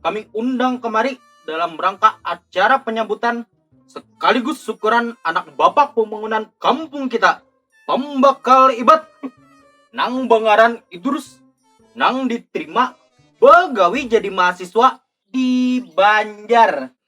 kami undang kemari dalam rangka acara penyambutan sekaligus syukuran anak bapak pembangunan kampung kita, pembakal ibat nang bangaran Idrus nang diterima bagawi jadi mahasiswa di Banjar.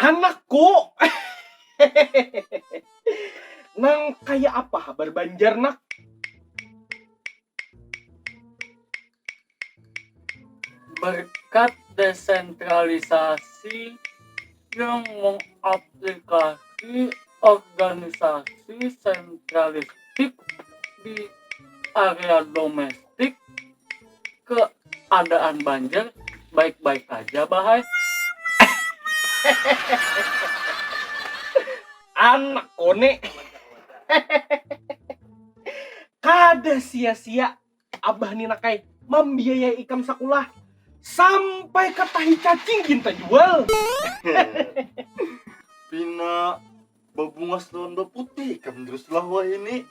Anakku. Nang kaya apa habar Banjar nak? Berkat desentralisasi yang mengaplikasi organisasi sentralistik di area domestik, tik keadaan banjir baik-baik aja bahai anak kone kada sia-sia abah ni nakai mambiayai ikam sakulah sampai ke tahi cacing gin tajual pina Bebungas lawan beputih ikam terus lah wahini.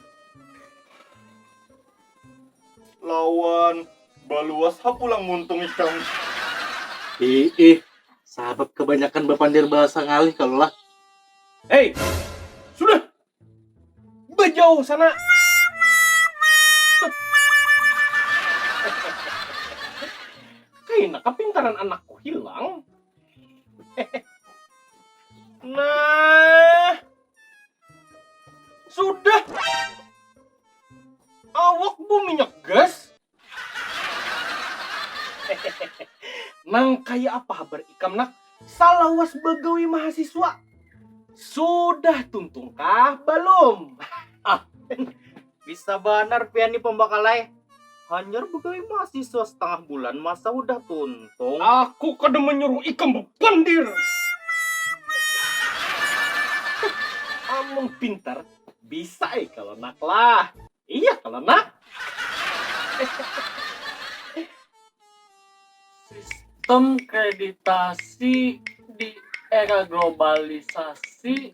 Lawan baluas ha pulang muntung ikam. Iih, sabab kebanyakan bapandir bahasa ngalih kalo lah. Hei, sudah! Bejauh sana! Kaina kepintaran anakku hilang. Nah, sudah. Awak bu minyak gas. Nang kaya apa habar ikam nak, salawas bagawi mahasiswa? Sudah tuntung kah balum? Bisa banar pian ni pambakal ai. Hanyar begawi mahasiswa setengah bulan masa hudah tuntung. Aku kada manyuruh ikam bapandir. Amun pintar bisa ai kalo nak lah. Iya kalo nak. Sistem kreditasi di era globalisasi.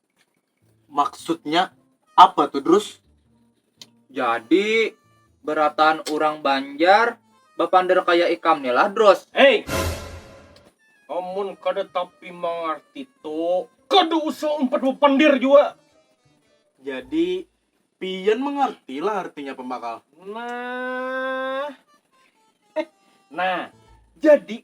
Maksudnya apa tuh Drus? Jadi berataan urang Banjar bapander kaya ikam ni lah Drus. Hei! Amun kada tapi mangarti tuh kada usah umpat bapander jua. Jadi pian mangarti lah artinya pambakal? Nah, nah jadi